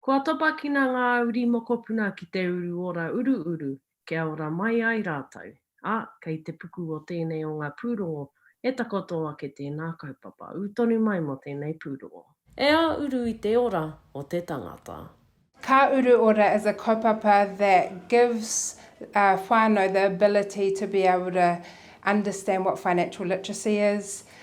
Kua topakina ngā uri mokopuna ki te uru ora uruuru kia ora mai ai rātou, ā, kei te puku o tēnei o ngā pūrongo e takoto ake tēnā kaupapa, ū tonu mai mō tēnei pūrongo. E ā uru i te ora o te tangata. Ka uru ora is a kaupapa that gives whānau the ability to be able to understand what financial literacy is,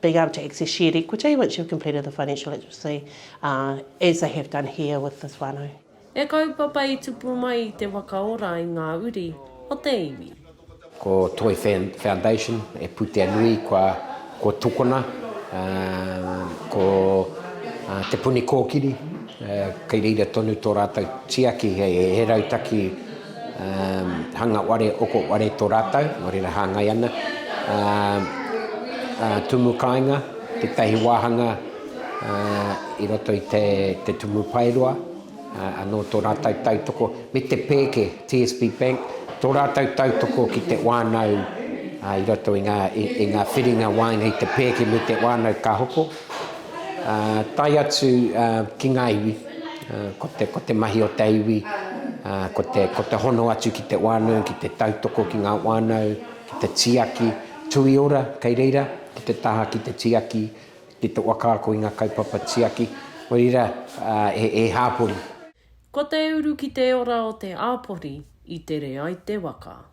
being able to access shared equity once you've completed the financial literacy, as they have done here with this whānau. He kaupapa i tupu mai i te whakaora i ngā uri o te iwi. Ko Toi Foundation he pūtea nui kua tukuna ko Te Puni Kōkiri, kei reira tonu tō rātou tiaki he rautaki, hanga ware, oko ware to ratou, no reira hangai ana, tumu kainga, tetahi wahanga i roto i te tumu paeroa, ano to ratou tautoko me te peke TSB Bank, to ratou tautoko ki te whanau i roto i nga whiringa waenga i te peke me te whanau ka hoko, tae atu ki nga iwi. Ko te mahi o te iwi, ko te hono atu ki te whānau, ki te tautoko ki ngā whānau, ki te tiaki tuiora kei reira, ki te taha ki te tiaki, ki te whakaako i ngā kaupapa tiaki. Nō reira, he hāpori. Ko te uru ki te ora o te āpori i tere ai te waka.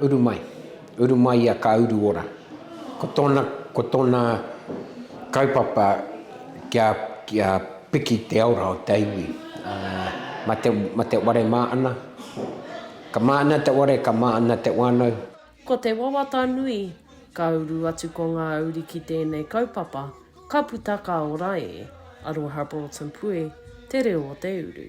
Uru mai. Uru mai ia ka uru ora. Ko tōna, ko tōna kaupapa kia, kia piki te aura o te iwi. Ma te, ma te ware mā ana. Ka mā ana te ware, ka mā ana te wānau. Ko te wawata nui, ka uru atu ko ngā uri ki tēnei kaupapa, ka puta ka ora e. Aroha Broughton Pue, Te Reo o te Uru.